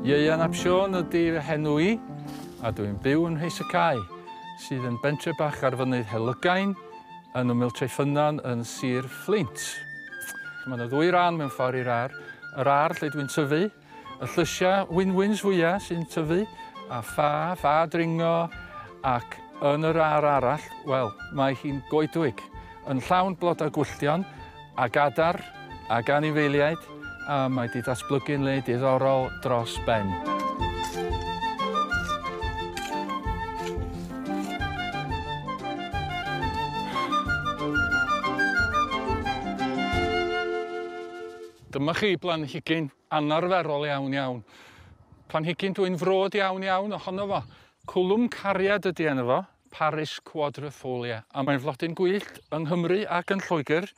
Ieuan ap Siôn ydy fy henw i, a dw i'n byw yn Mheis y Cae, sydd yn bentre bach ar fynydd Helygain, yn ymyl Treffynnon yn Sir Fflint. Mae yna ddwy ran mewn ffordd i'r ar, yr ar lle dwi'n tyfu, y llysiau wynwyns fwyaf sy'n tyfu, a ffa, ffa dringo, ac yn yr ar arall, wel, mae hi'n goedwig, yn llawn blodau gwylltion, a Gadar ag anifeiliaid a mae 'di datblygu'n le diddorol dros ben. Dyma chi blanhigyn anarferol iawn iawn. Planhigyn dwi'n frod iawn iawn ohono fo. Cwlwm cariad ydy enw fo, Paris quadrifolia, a mae'n flodyn gwyllt yng Nghymru ac yn Lloegr,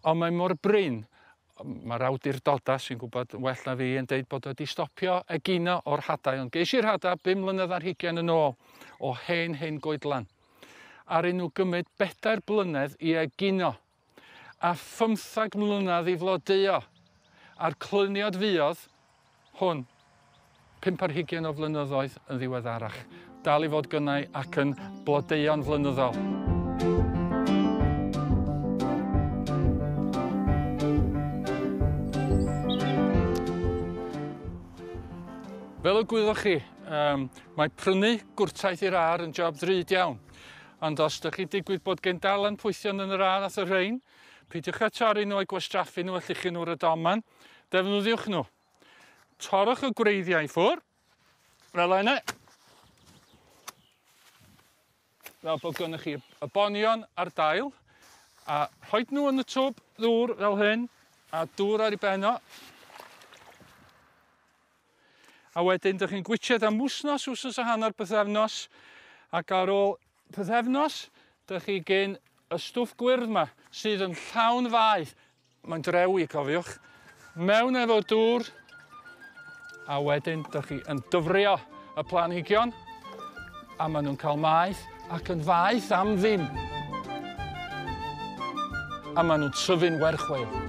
ond mae mor brin, mae'r awdurdodau sy'n gwybod yn well na fi yn deud bod wedi stopio egino o'r hadau, ond geis i'r hadau bum mlynedd ar hugain yn ôl o hen hen goedlan. Aru nhw gymryd bedair blynedd i egino a phymthag mlynedd i flodeuo, a'r cluniad fuodd hwn pump ar hugain o flynyddoedd yn ddiweddarach, dal i fod gynnau ac yn blodeuo'n flynyddol. Fel y gwyddoch chi, mae prynu gwrtaith i'r âr yn job ddrud iawn. Ond os dych chi'n digwydd bod gen dal anpwythion yn yr ardd at y rhein, peidiwch â torri nhw a'u gwastraffu nhw a llichu nhw ar y domen, defnyddiwch nhw. Torrwch y gwreiddiau i ffwr, fel yna, fel bod gennych chi y bonion a'r dail, a rhoi nhw yn y twb ddŵr fel hyn, a dŵr ar ei ben o, A wedyn dych chi'n gwitsiad am wsnos, wsnos a hanner, bythefnos. Ac ar ôl pythefnos, dych chi gyn y stwff gwyrdd yma, sydd yn llawn fai. Mae'n drewi, cofiwch. Mewn efo dŵr. A wedyn dych chi yn dyfrio y planhigion. A maen nhw'n cael maeth ac yn faeth am ddim. A maen nhw'n tyfu'n werchweil.